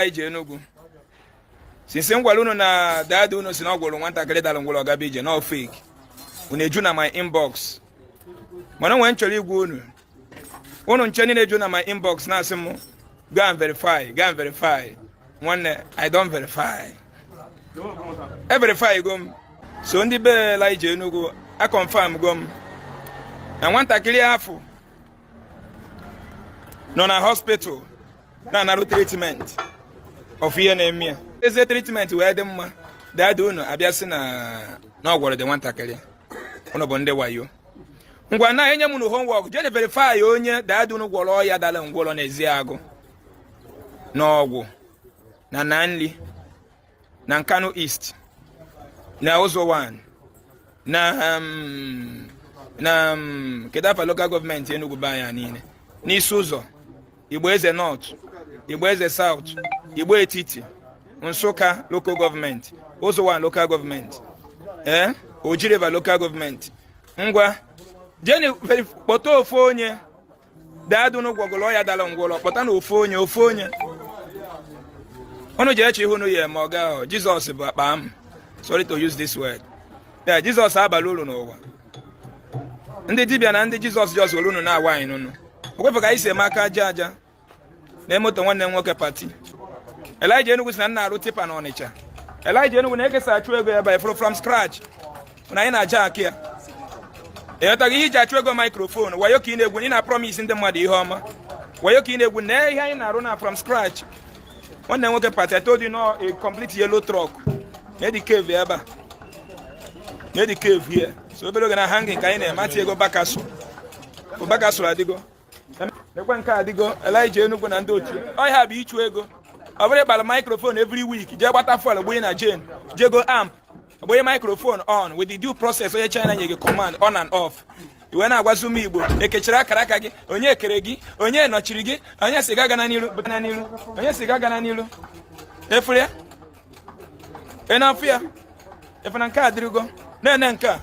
Elijah Enugu since m gwara unu na dad unu sị na ọ gwọrọ nwatakịrị dara ngwọrọ ọ gaba ije na ọ fake unu eju na my inbox mana nwee ihe m chọrọ ịgwa unu unu ncha niile eju na my inbox na-asị m go and verify go and verify nwanne I don verify e verify go m so ndị be Elijah Enugu a confirm go m na nwatakịrị afụ nọ na hospital na-anarụ treatment of ihe na-eme ya ezi treatment wee dị mma dad unu abịa sị na na ọ gwọrọ the nwatakịrị unu bụ ndị wayo ngwa na enye m unu homework jee verify onye dad unu gwọrọ ọya dara ngwọrọ n'Ezeagu n'Awgu na Aninri na Nkanu East na Uzo-Uwani na um, na um, kedu afa local government Enugu be anyị niile n'Isi-Uzo Igbo Eze North Igbo Eze South Igbo Etiti Nsukka local government Uzo-Uwani local government ee eh, Oji River local government ngwa jeni kpọta ofu onye dad unu gwọgolu ọya dala ngwọlọ kpọtanụ ofu onye ofu onye unu ji eche ihe unu ya-eme ọga ahụ jizọs bụ akpa amụ sorry to use this word ee jizọs abaghị uru n'ụwa ndị dibịa na ndị jizọs just were unu na-awa anyị n'unu ọ kwa ị fụ ka anyị si eme aka aja aja na moto nwanne m nwoke Pati Elijah Enugu sị na m na-arụ tipper na Ọnịcha Elijah Enugu nee ka e si achụ ego ebe ị fụrụ from scratch na anyị na-aja akị ya ị nwetaghị ihe i ji achụ ego microphone wayo ka ị na-egwu ị na-promise ndị mmadụ ihe ọma wayo ka ị na-egwu na ihe anyị na-arụ na from scratch nwanne m nwoke Pati I told you na ọ a complete yellow truck nee the cave ebe a nee the cave here so obere oge na hanging ka anyị na-eme e tiego back axle back axle adịgo. nekwe nke a adịgo Elijah Enugu na ndị otu ọ ihe a bụ ịchụ ego ọ bụrọ ịpara microphone every week jee gbata fuel gbanye na gen jee go amp gbanye microphone on with the due process onye China nye gị command on and off ị wee na-agwazi ụmụ Igbo e kechiri akaraka gị onye kere gị onye nọchiri gị onye sị gị agana n'ilu gana n'ilu onye sị gị agana n'ilu ị fụrụ ya ị na-afụ ya efe na nke a dịrịgo na-ene nke a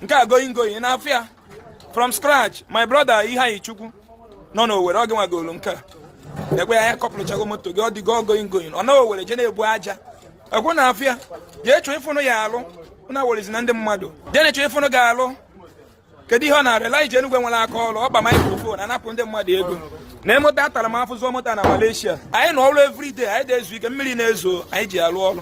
nke a going going ị na-afụ ya from scratch my brother Ifeanyichukwu nọ n'Owere ọ gị nwa goro nke a ekwe ya a couple-chago moto gị ọ dịgo going going ọ na Owere je na-ebu aja ekwe na afịa jee chọọ ife unu ya-alụ na werezi na ndị mmadụ jeni chọọ ife unu ga-alụ kedu ihe ọ na-arụ Elijah Enugu nwere aka ọrụ ọ pa microphone anapụ ndị mmadụ ego na moto atara m afụ zụọ moto na Malaysia anyị nọ ọrụ everyday anyị adị ezu ike mmiri na-ezo anyị ji alụ ọrụ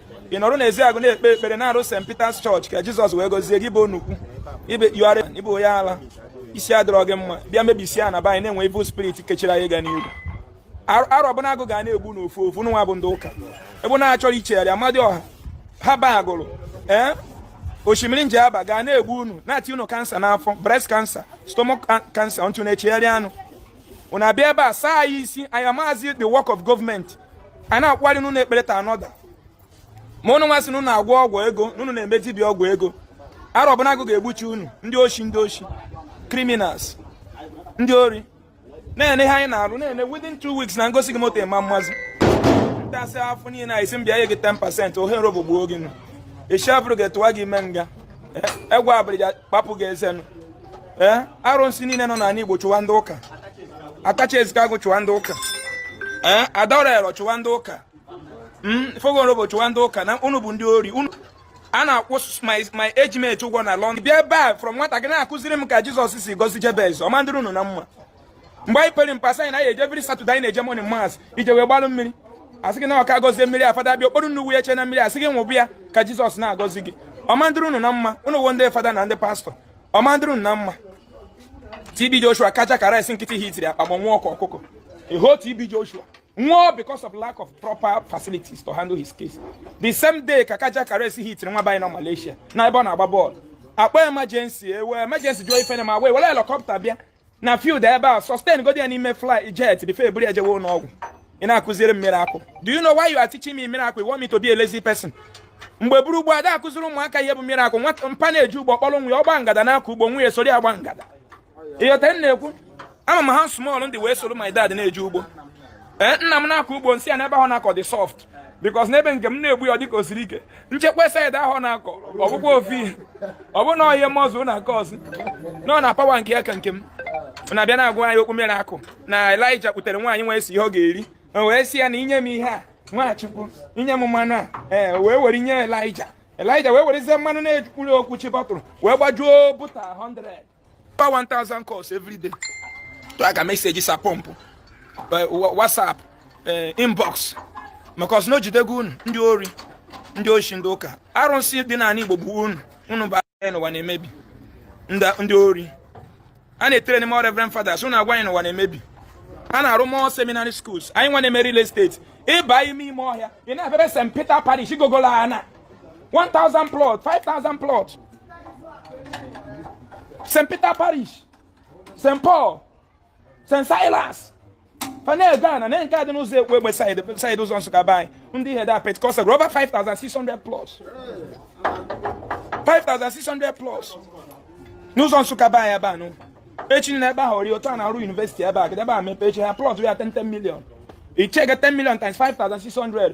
ị nọrọ n'Ezeagụ na-ekpe ekpere na-arụ St. Peter's Church ka Jizọs wee gozie gị bụ nnukwu ị bụ onye ala isi adịrọ gị mma bịa mebisie na be anyị na-enwe evil spirit kechiri anyị ga n'ihu Arọ Ọbụnagụ ga na-egbu n'ofu ofu nwa bụ ndị ụka ebe unu achọrọ ichegharị Amadịọha Haba Agụlụ ee Osimiri Njaba ga na-egbu unu na-ati unu kansa n'afọ breast cancer stomach cancer ntụ na-echegharị anụ unu abịa ebe a saa anyị isi anyị amazi the work of government a na-akparị unu ekpere ta anọda ma ụnụ nwa sị na ụnụ agwọ ọgwụ ego na ụnụ na-eme dibịa ọgwụ ego Arọ Ọbụnagụ ga-egbuchi unu ndị oshi ndị oshi criminals ndị ori na-ene ihe anyị na-arụ na-ene within two weeks na m gosi gị moto ịma mmazi ntasị afọ niile ị sị m bịa nye gị 10% ohere bụ gbuo gị nụ echi abụrụ ga-etuwa gị ime nga egwu abalị kpapụ gị eze ọnụ ee arụsị niile nọ n'ala Igbo chụwa ndị ụka atachi ezikago chụwa ndị ụka ee Adoro Alọ chụwa ndị ụka hmm, fogorobo chụwa ndị ụka na unu bụ ndị ori unu a na-akwụ my age mate ụgwọ na London bịa ebe a from nwata gị na-akụziri m ka Jizọs si gọzie Jabez ọ ma adịrị unu na mma mgbe anyị pere mpe anyị na-eje every Saturday anyị na-eje morning mass i je wee gbalụ mmiri a sị gị na ọ ka a gọzie mmiri a fada bịa o kporo nnu kwụnyecha na mmiri a sị gị ṅụba ya ka Jizọs na-agọzi gị ọ ma adịrị unu na mma unu wụ ndị fada na ndị pastọ ọ ma adịrị unu na mma TB Joshua cardiac arrest nkịtị hitiri akpa ma nwụọ ka ọkụkọ eho TB Joshua nwụọ because of lack of proper facilities to handle his case the same day ka cardiac arrest hitiri nwa be anyị na Malaysia na ebe ọ na-agba bọọlụ a kpọọ emergency ewe emergency jụọ ife na-eme wee were helicopter bịa na field ebe a sustain godi ya n'ime fly jet before e buru ya jewe ụlọọgwụ ị na-akụziri m miracle do you know why you are teaching me miracle you want me to be a lazy person mgbe bụrụ gboo a da akụziri ụmụaka ihe bụ miracle nwa mpa na-eje ugbo kpọrọ nwa ya ọ gbaa ngada na-akọ ugbo nwa ya soro ya gba ngada ị ghọta m na-ekwu ama m ha small ndị wee soro my dad na-eje ugbo ee eh, nna m na-akọ ugbo m sị ya n'ebe ahụ na-akọ dị soft because n'ebe nke m na-egbu ya dịka o siri ike m jekwaa side ahụ na-akọ ọ bụkwa ofu ihe ọ bụ na ọhịa mọzụ na-akọ ọsị nọ na power nke ya ka nke m na-abịa na-agwa anyị okwu miracle na Elaịja kputere nwaanyị na-esi ihe ọ ga-eri wee sị ya na i nye m ihe a nwachukwu i nye m mmanụ a ee wee were nye Elaịja Elaịja wee werezie mmanụ na-ejurọ okwuchi bottle wee gbajuo bottle 100 pa 1000 calls every day to aga messages a pump eh, whatsapp eh, inbox maka ọ sị na o jidego unu ndị ori ndị oshi ndị ụka arụsị dị n'ala Igbo gbuo unu unu agwa anyị n'ụwa na-emebi ndị ori a na-etrain more reverend fathers unu agwa anyị n'ụwa na-emebi a na-arụ more seminary schools anyị nwa na-eme real estate ị ba ime ime ọhịa ị na-abịara St Peter parish gogolo ana 1000 plot 5000 plot st peter parish st paul st silas fanel ghana na nke a dị n'ụzọ ekwegbe side ụzọ nsụka be anyị ndị ihe da pentecostal over 5600 plus 5600 plus n'ụzọ nsụka be anyị ebe anụ echi na ebe ahụ ori otu a na-arụ university ebe a kedebe a mepe echi ha plot ya 10 million i checkie 10 million times 5600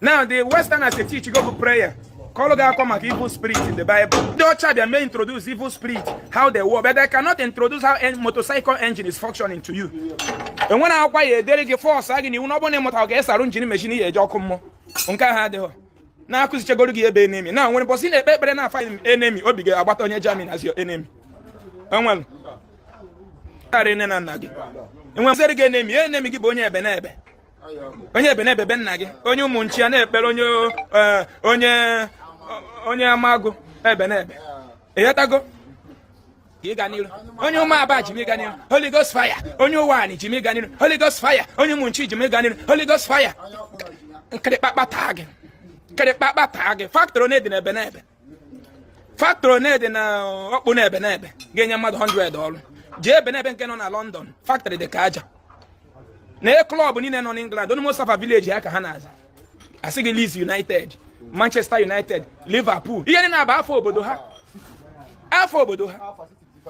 now the westerners dey teach you go for prayer kọlụ gị akọ maka evil spirit in the bible ndị ọcha bịa may introduce evil spirit how they work but they cannot introduce how a motorcycle engine is functioning to you enwere akwụkwọ edere gị force gị na iwu na ọ bụrụ na ịmụta ka esi arụ engine machine ya eje ọkụ mmụọ nke ahụ adịghị na akụzichagoro gị ebe enemy na nwere busy na-ekpe ekpere na afa enemy obi gị agbata onye jamin as your enemy enwere karị nne na nna gị enwere gị enemy enemy gị bụ onye ebenebe onye ebenebe be nna gị onye ụmụnchi ya na-ekpere onye eh, onye onye amagụ ebenebe ịghọtago ịga n'iru onye ụmụaba ji m ịga n'iru holy ghost fire onye ụwanị ji m ịga n'iru holy ghost fire onye ụmụnchi ji m ịga n'iru holy ghost fire nkịrịkpakpa taa gị nkịrịkpakpa taa gị factory one dị n'ebenebe factory one dị na Ọkpụnọ Ebenebe ga-enye mmadụ 100 ọrụ jee Ebenebe nke nọ na London factory dị ka aja na club niile nọ n'England onye most afa village ya ka ha na-aza asị gị Leeds United Manchester United Liverpool ihe niine a bụ afa obodo ha afa obodo ha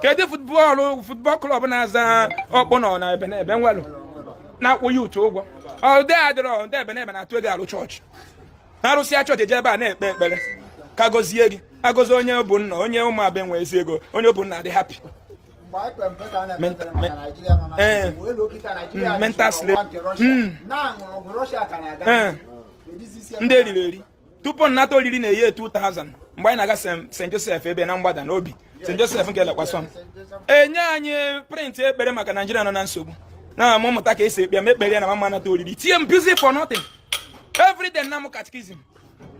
kedu football club na-aza ọkpụnọ ebenebe nwelụ na-akwụ youth ụgwọ ọ dị adịrọ ndị ebenebe na-atụ ego arụ chọọchị arụsịa chọọchị eje ebe a na-ekpe ekpere ka gọzie gị agọzi onye bụ nna onye ụmụaba nwee ezi ego onye bụ nna dị happy mental slavery ndị eriri eri tupu nnata oriri na year 2000 mgbe anyị na-aga St Joseph ebe na mgbada n'obi St Joseph nke lekwasọ m enye anyị print ekpere maka Naijiria nọ na nsogbu na-amụta ka esi ekpe m ekpere ya na m ama nata oriri tie m busy for nothing every day na m catechism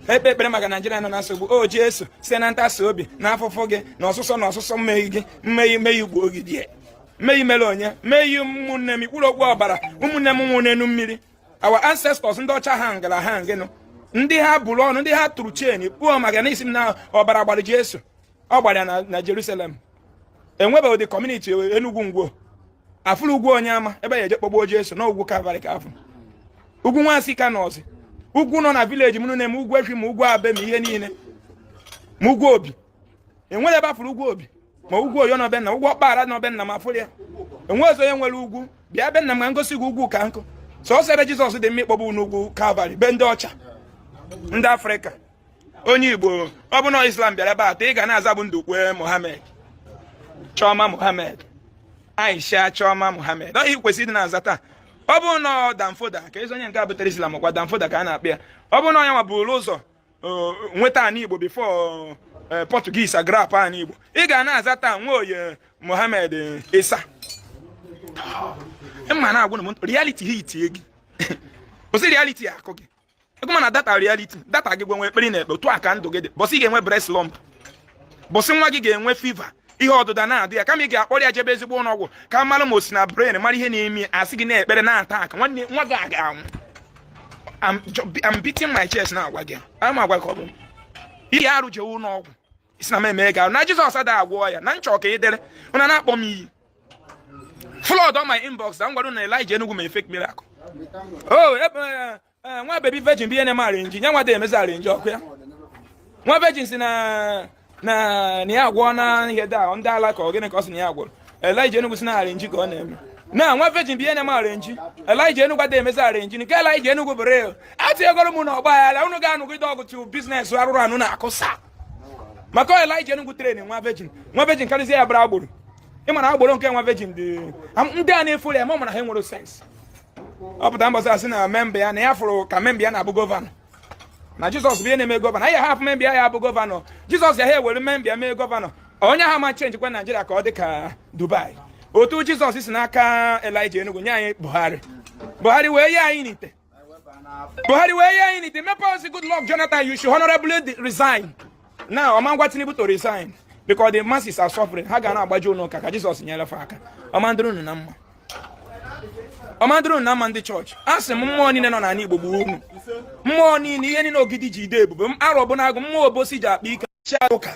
ekpe ekpere maka naijiria nọ na nsogbu o Jesu site na ntasi obi na afụfụ gị na ọsụsọ na ọsụsọ mmehie gị mmehie mmehie ugbo ogidi mmehie mere onye mmehie ụmụnne m ikwuru okwu ọbara ụmụnne m nwụrụ n'elu mmiri our ancestors ndị ọcha hangara hanging ndị ha bụrụ ọnụ ndị ha tụrụ chain kpuo m aka na isi m na ọbara gbara Jesu ọ gbara na Jerusalem enwebeghị ụdị community Enugwu Ngwo afụrụ ugwu Onyeama ebe a eje kpọgbuo Jesu na ugwu Kalvarị ka afụ ugwu nwansị ka nọzi ugwu nọ na village m na-eme ugwu efi ma ugwu abe ma ihe niile ma ugwu obi e nwere ebe a fụrụ ugwu obi ma ugwu oyo na obenna ugwu ọkpara na obenna ma a fụrụ ya enwe ọzọ onye nwere ugwu bịa be nna m ka m gosi gị ugwu ka nkụ sọsọ ebe jizọs dị mma ịkpọgbu n'ugwu kalvarị be ndị ọcha ndị afrịka onye igbo ọ bụ na islam bịara ebe atọ ị ga na-aza bụ ndukwe mohammed chiọma mohammed aisha chiọma mohammed ọ ihe kwesịrị ịdị na-aza taa ọ bụrụ na ọ danfodio ka ezi onye nke a butere islam ọ kwa danfodio ka a na-akpọ ya ọ bụrụ na onye nwa buru ụzọ uh, nweta ana igbo before uh, portuguese agrab ana igbo ị ga na-aza taa nwoye mohammed isa m na-agwa unu reality ahitie gị kwụsị reality akụ gị ego mana data reality data gị gwenwe ekpere na-ekpe otu a ka ndụ gị dị bọsị ị ga-enwe breast lump bọsị nwa gị ga-enwe fever ihe ọdụdọ na-adọ ya kama ị ga-akpọrọ ya jebe ezigbo ụlọ ọgwụ ka a mara ma o si na brain mara ihe na-eme a sị gị na-ekpere na-ata aka nwanne nwa gị ga-anwụ I'm beating my chest na-agwa gị ama agwa ka ọ bụ ihe arụ jewe ụlọ ọgwụ ị sị na m eme ga na Jizọs ada agwọ ya na nchọ ka ị dere unu na-akpọ m iyi flood on my inbox na ngwado na Elijah Enugu mee fake miracle oh Eh, nwa baby virgin bụ ihe na-eme arrangee ya nwa ada emezi arrangee ọ kwa ya nwa virgin si na na na ya agwọ na ihe da ndị ala ka ọ gịnị ka ọ si na ya agwọrọ elijah enugwu sị na arrangee ka ọ na-eme na nwa virgin bụ ihe na-eme arrangee elijah enugwu ada emezi arrangee nke elijah enugwu bụ real etinyegoro m na ọgba aghara unu ga-anụgide ọgụ tu business arụrụ ana unu akụsa maka elijah enugwu train nwa virgin nwa virgin karịzie ya bụrụ agboro ị ma na agboro nke nwa virgin dị ndị a na-efollow ya ma ọ mara ha enwere sense ọ pụta mbọsị a sị na memba ya na ya fụrụ ka memba ya na-abụ gọvanọ na jizọs bụ ihe na-eme gọvanọ anyị hapụ memba ya ya bụ gọvanọ jizọs ya ha ewere memba ya mee gọvanọ onye ha ma chenji kwa naijiria ka ọ dị ka dubai otu jizọs si n'aka elijah enugwu nye anyị buhari buhari wee ye anyị n'ite buhari wee ye anyị n'ite mepe ozi goodluck jonathan you should honorably de- resign now ọma ngwa tinubu to resign because the masses are suffering ha ga na-agbaje ụlọ ụka ka jizọs nyere fa aka ọ ma adịrị unu na mma ọ ma adịrị unu na mma ndị chọọchị a sị m mmụọ niile nọ n'ala Igbo gbuo unu mmụọ niile ihe niile ogidi ji adị ebube m arọ bi n'agụ mmụọ obosi ji akpa ike chịa ụka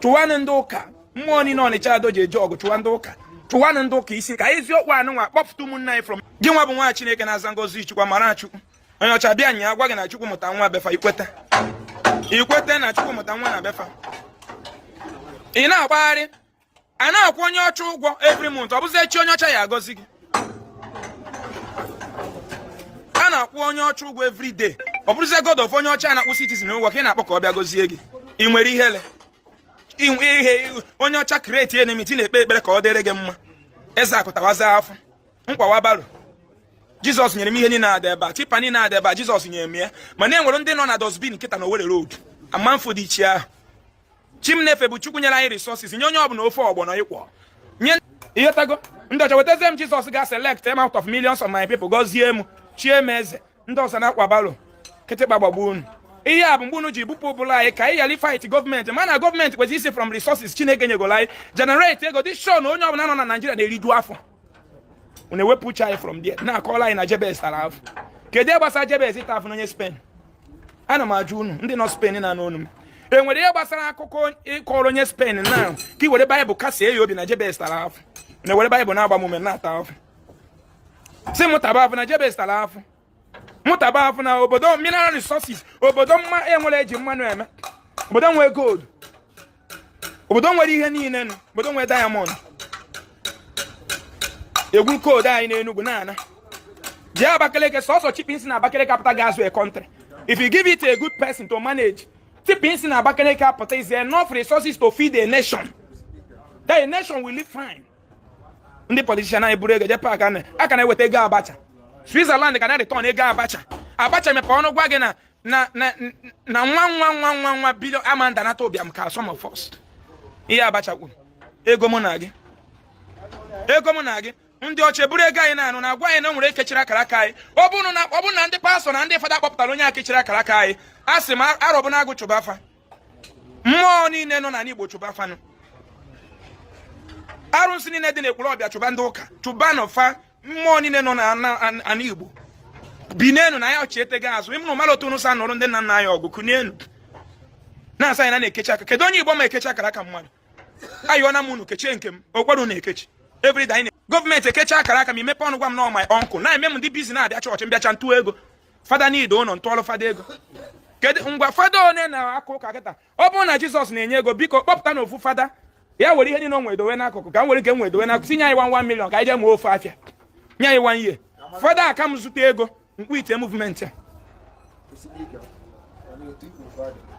chụwanụ ndị ụka mmụọ niile ọnịcha ado ji eje ọgụ chụwa ndị ụka chụwanụ ndị ụka ị sị ka eziokwu anụ nwa kpọpụta ụmụnna anyị from gị nwa bụ nwa Chineke na-aza ngọzi Chukwu mara Chukwu onye ọcha bịa nya agwa gị na Chukwu mụta nwa be fa i kweta i kweta na Chukwu mụta nwa na be fa ị na-agbagharị a na-akwụ onye ọcha ụgwọ every month ọ bụzi chi onye ọcha ya-agọzi gị a na-akwụ onye ọcha ụgwọ every day ọ bụrụzie god of onye ọcha na-akwụ citizen ụgwọ ka ị na-akpọ ka ọ bịa gọzie gị ị nwere ihele ihe onye ọcha create enmity na-ekpe ekpere ka ọ dịrị gị mma eze akụtawaza afọ nkwawa baro jizọs nyere m ihe niile a dị ebe a tipa niile a dị ebe a jizọs nyere m ya mana e nwere ndị nọ na dustbin nkịta na owerri road amanfo dị iche ahụ chi m na-efe bụ chukwu nyere anyị resources nye onye ọbụla ofe ọgbọnọ equally ịghọtago ndị ọcha wetazie m jizọs ga select m out of millions of my people gọzie m chie m eze ndị ọzọ na-akwa barrow kịtịkpa gbagbuo unu ihe a bụ mgbe unu ji bupụ ụbụlụ anyị ka anyị ghara fight gọọmenti mana gọọmenti kwesịrị isi from resources chineke nyegoro anyị generate ego dị sure na onye ọbụla nọ na naijiria na-eriju afọ unu ewepụ uche anyị from there na-akọlụ anyị na Jebez tara afụ kedu ihe gbasara Jebez ịta afụ na onye Spain ana m ajụ unu ndị nọ Spain na-anụ onu m e nwere ihe gbasara akụkọ ịkọrọ onye Spain na ka ị were baịbụl kasie ya obi na Jebez tara afụ na-ewere baịbụl na-agba m ume na-ata afụ sị m taba afụ na Jebez tara afụ mụ taba afụ na obodo mineral resources obodo mma enwere eji mmanụ eme obodo nwere gold obodo nwere ihe niile nụ obodo nwere diamond e gwuo coal dụ anyị n'enugwu na-ana jee abakaleke sọsọ chippings na abakaleke apụta ga azụ a country if you give it a good person to manage chippings na abakaleke apụta is enough resources to feed a nation that a nation will live fine ndị politician anyị buru ego jee pack a ka na-eweta ego abacha switzerland ka na-return ego abacha abacha mepe ọnụ gwa gị na na na na one one one one one billion ama ndanata ụbịam ka some of us ihe abacha kwuru ego mụ na gị ego mụ na gị ndị ọcha eburu ego anyị na-anụ na-agwa anyị na o nwere onye kechiri akara aka anyị ọ bụrụ na ndị pastọ na ndị fada akpọpụtarọ onye a kechiri akara aka anyị a sị m arọbụnagụ chụba fa mmụọ niile nọ n'ala Igbo chụba fa nụ arụsị niile dị n'Ekwulọbịa chụba ndị ụka chụbanụ fa mmụọ niile nọ n'ala Igbo binienu na ya ọchịete gị azụ ịmụrụ mmadụ otu unu si anụrụ ndị nna nna anyị ọgụ kunienu na a sị anyị na a na-ekechi aka kedu onye Igbo ma ekechi akara aka mmadụ ayọna m unu kechie nke m o kwerọ unu ekechi everyday gọọmenti ekechi akara aka m i mepe ọnụ gwa m na ọ my uncle na-eme m m dị busy na-abịa chọọchị m bịacha m tụọ ego fada na-alụ ụlọ m tụọrụ fada ego kedu ngwa fada one na-aka ụka kịta ọ bụrụ na jizọs na-enye ego biko kpọpụtanụ ofu fada ya were ihe niile o nwere dowe n'akụkụ ka m were nke m were dowe n'akụkụ tinye anyị one one million ka anyị jee mụọ ofu afịa nye anyị one year fada aka m zụta ego m quitie movement a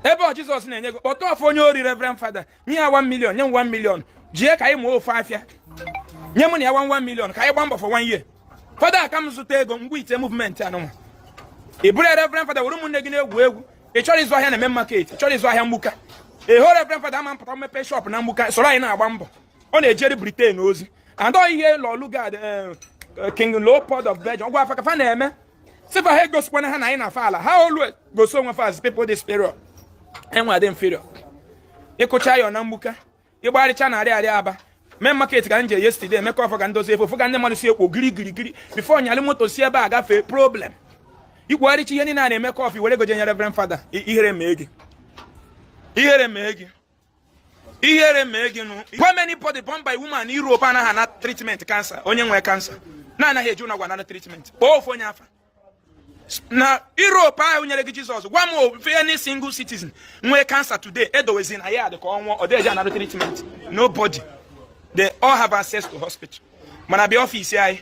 ebe ọ jizọs na-enye ego kpọta ofu onye ori reverend fada nye ya 1 million nye m 1 million jee ka anyị mụọ ofu afịa nye m na ya 1 million ka anyị gbaa mbọ for one year fada aka m zụta ego m quitie movement anụnwa ị bụrụ reverend fada were ụmụnne gị na-egwu egwu ị chọrọ ịzụ ahịa na main market ị chọrọ ịzụ ahịa mgbuka ị hụ reverend fada ama mpụta mmepe shop na mgbuka soro anyị na-agba mbọ ọ na-ejeri britain ozi and ọ ihe lord lugard eh, eh, king leopold of belgium gwara fa ka fa na-eme sị fa ha egosikwana ha na anyị na fa ala ha always gosi onwe fa as people dị superior and we adị inferior ịkụcha ya na Mgbuka ịgbarịcha n'Arịarịa Aba Main Market ka m je yesterday Emeka Ọfọ ka m dozie fon fụ ka ndị mmadụ si ekwo giri giri giri before nyalị moto si ebe a gafee problem ikwugharịcha ihe niile a na-eme kọfị were ego je nye reverend fada ihere mee gị ihere mee gị ihere mee gị nụ gwa m anybody born by woman in Europe anaghị ana treatment cancer onye nwere cancer na-anaghị eje ụnọ ọgwụ ana treatment ofu onye afa na Europe ahụ nyere gị Jizọs gwa m any single citizen nwee cancer today edowezi na ya dị ka ọ nwụọ ọ dịghị anara treatment nobody they all have access to hospital mana bịa ọfisi anyị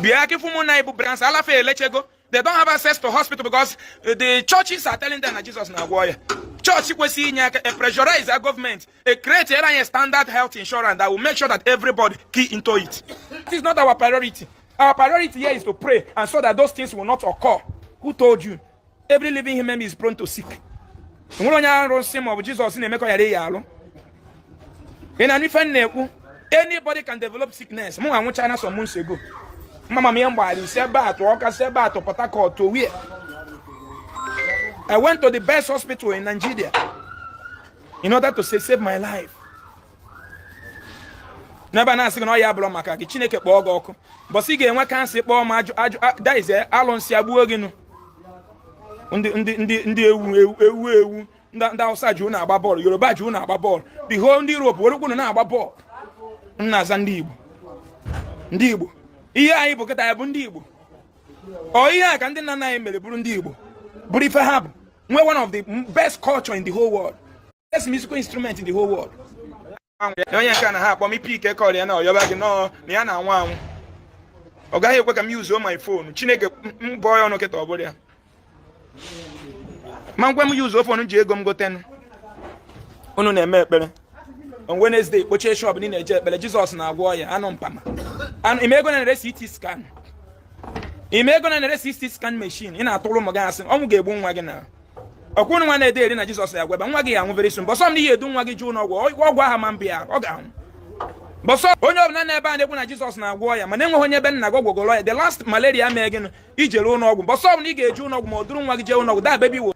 bịa ka ị fụ ụmụ nwaanyị bu breast ala fa elechego they don't have access to hospital because uh, the churches are telling them na Jesus na-agwọ ọya chọọchị kwesịrị inye aka pressurize a gọọmenti a create a standard health insurance that will make sure that everybody key into it it is not our priority our priority here is to pray and so that those things will not occur who told you every living human is prone to sick nwere onye arụsị maọbụ Jizọs na-eme ka ọ ya ya alụ ị nụ ife m na-ekwu anybody can develop sickness mụ anọ China some months ago mama m ihe mgbaghara isi ebe a tụọ Ọka si ebe a tụọ Port Harcourt Owerri I went to the best hospital in Nigeria in order to save, save my life n'ebe a na-asị gị na ọ ya abụrụ maka gị Chineke kpọọ gị ọkụ mbọsị ị ga-enwe cancer kpọọ m ajụ ajụ that is alụsị egbuo gị nụ ndị ndị ndị ndị ewu ewu ewu ndị Hausa ji unu agba bọọlụ Yoruba ji unu agba bọọlụ the whole ndị Europe werekwu unu na-agba bọọlụ unu na-aza ndị Igbo ndị Igbo ihe anyị bụ kịtaa bụ ndị Igbo ọ ihe a ka ndị nna nna anyị mere bụrụ ndị Igbo bụrụ ife ha bụ nwee one of the best culture in the whole world best musical instrument in the whole world na onye nke a na ha akpọ m ipi ike call ya na ọyọba gị nọọ na ya na-anwụ anwụ ọ gaghị ekwe ka m yuzuo my fon chineke m bụọ ya ọnụ kịta ọ bụrụ ya ma ngwa m yuzuo fon ji ego m gotenụ unu na-eme ekpere on Wednesday kpochie shop niile eje ekpere Jizọs na-agwọ ọya anụ mpama ị ma ego a na-ere CT scan ị ma ego a na-ere CT scan machine ị na-atụrụ ụmụ gị asị ọnwụ ga-egbu nwa gị na ọ kwa unu nwa na-ede eri na jizọs ya gwọba nwa gị ya anwụ very soon mbọsị ọbụna ị ya-edu nwa gị je ụnọ ọgwụ ọgwụ aha ma mbịa ọ ga-anwụ mbọsị ahụ onye ọbụla n'ebe a na-ekwu na jizọs na-agwọ ọya mana enweghị onye be nna gị ọ gwọgoro ọya the last malaria mee gịnụ i jere ụlọ ọgwụ mbọsị ọbụla ị ga-eje ụlọ ọgwụ maọbụ duru nwa gị jee ụlọ ọgwụ that baby wo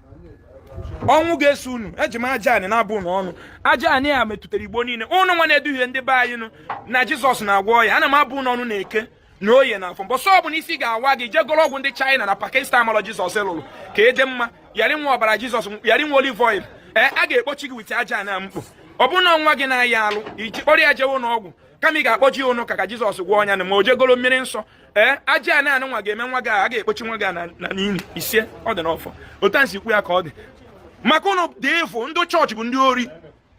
ọnwụ ga-eso unu eji m aja anị na-abụ unu ọnụ aja anị a metụtara igbo niile unu nwa na-eduhie ndị be anyị nụ na jizọs na-agwọ ọya ana m abụ unu ọnụ n'Eke na oye na afọ mbọsị ọbụla isi ga-awa gị jegoro ọgwụ ndị China na Pakistan malọ Jizọs lụrụ ka ị dị mma ya rị ị ṅụwa ọbara Jizọs ya rị ị ṅụwa olive oil ee a ga-ekpochi gị wite aja na mkpu ọ bụrụ na nwa gị na-aya alụ ị jụ ịkpọrọ ya jewe ụnọ ọgwụ kama ị ga-akpọje ya ụnọ ụka ka Jizọs gwọọ ọya na ma o jegoro mmiri nsọ ee aja na anụ nwa ga-eme nwa gị a ga-ekpochi nwa gị na n'ili isee ọ dị n'ọfọ otu a si kwu ya ka ọ dị maka ụnụ dị efu ndị chọọchị bụ ndị ori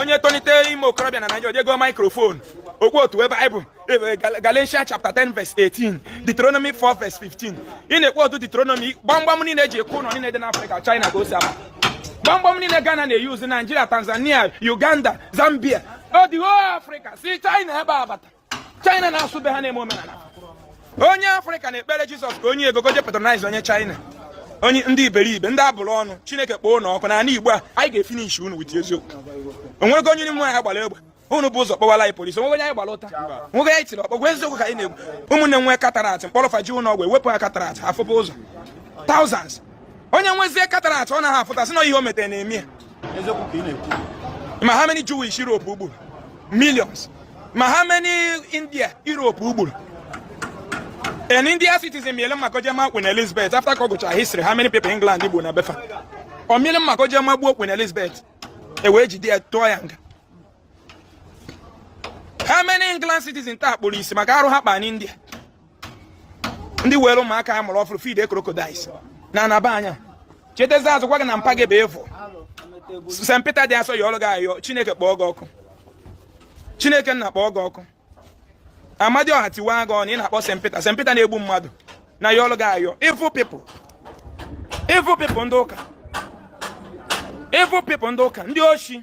onye tolite ime okorobịa na Naịjirịa je goo maikrofon o kwotuwe Bible Galatians chapter 10 verse 18 Deuteronomy 4 verse 15 ị na-ekwotu Deuteronomy gbamgbam niile e ji akụ ụlọ niile dị n'Afrịka China ka o si abata gbamgbam niile Ghana na-eyuzu Naijiria Tanzania Uganda Zambia ọ the whole Afrịka si China ebe a bata china na-asụ be ha na-eme omenala onye afrịka na-ekpere jizọs ka o nye ego ọ ga-eji patronize onye china onye ndị iberibe ndị a bụrụ ọnụ chineke kpọọ unu ọkụ n'ala igbo a anyị ga-efinish unu wit eziokwu o nwego onye n'ime anyị gbara egbe unu bu ụzọ kpọwala anyị polisi o nwego onye anyị gbara ụta o nwego onye anyị tiri ọkpọ ọ bụ eziokwu ka anyị na-ekwu ụmụnne nwe katarat m kpọrọ fa je ụlọ ọgwụ e wepụ ya katarat a fụba ụzọ thousands onye nwezie katarat ọ naghị afụta sị na ihe o metere na-eme ya ma how many Jewish Europe gburu millions ma how many India Europe gburu an India citizen mịlị mma ka o je maa Queen Elizabeth after ka ọ gụchara history how many people England gburu na be fa ọ mịlị mma ka o je magbuo Queen Elizabeth e wee jide ya tụọ ya nga how many England citizen taa kpụrụ isi maka arụ ha kpa n'India ndị were ụmụaka a mụrụ ọfụrụ fidie crocodiles na anaba anya chetazi azụ gwa gị na mpa gị bụ efu St. Peter dị asọ yọọrọ gị ayịyọ Chineke kpọọ gị ọkụ Chineke nna kpọọ gị ọkụ Amadioha tiwa gị ọnụ ị na-akpọ St. Peter St. Peter na-egbu mmadụ na-ayọrọ gị ayịyọ evil people evil people ndị ụka evil people ndị ụka ndị oshi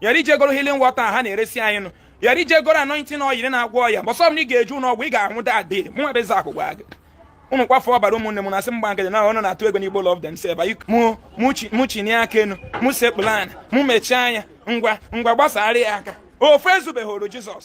ya rị i je goro healing water ha na-eresi anyị ṅụọ ya rị i je goro anointing oil na-agwọ ọya mbọsị ọbụna ị ga-eje ụlọ ọgwụ ị ga-anwụ dadị mụnwa bụ Ezeakụ gwa gị ụnụ kwafuo ọbara ụmụnne m na-asị m gba nkịtị na unu na-atụ egwu ndị igbo love themselves mụ chinie aka enu mụ sekpulu ana mụ mechie anya ngwa ngwa gbasara ya aka ofe ezubeghị oru jizọs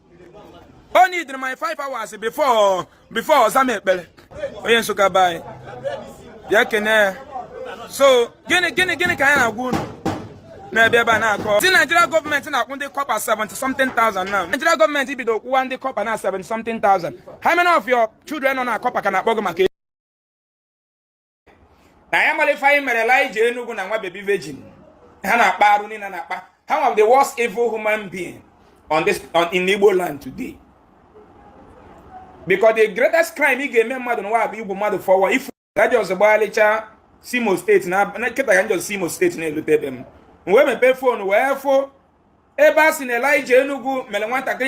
o needed my five hours before before ọ zaa m ekpere onye nsụka be anyị bịa kene ya so gịnị gịnị gịnị ka anyị na-agwa unu n'ebe ebe a na-akọ sị Nigeria gọọmenti na-akwụ ndị kọpa 70 something thousand now Nigeria gọọmenti bido kwụwa ndị kọpa na 70 something thousand how many of your children nọ na kọpa ka na-akpọ gị maka na ya mara ife anyị mere Elijah Enugu na nwa bebi virgin ha na-akpa arụ niile na-akpa ha nwa the worst evil human being on this on in Igbo land today because the greatest crime ị ga-eme mmadụ n'ụwa bụ igbu mmadụ fọwa ifu gaji ọzọ gbagharịcha si Imo steeti na nkịta ka njọ si Imo steeti na-elute be m wee mepee fon wee fụ ebe a sị na Elijah Enugu mere nwatakịrị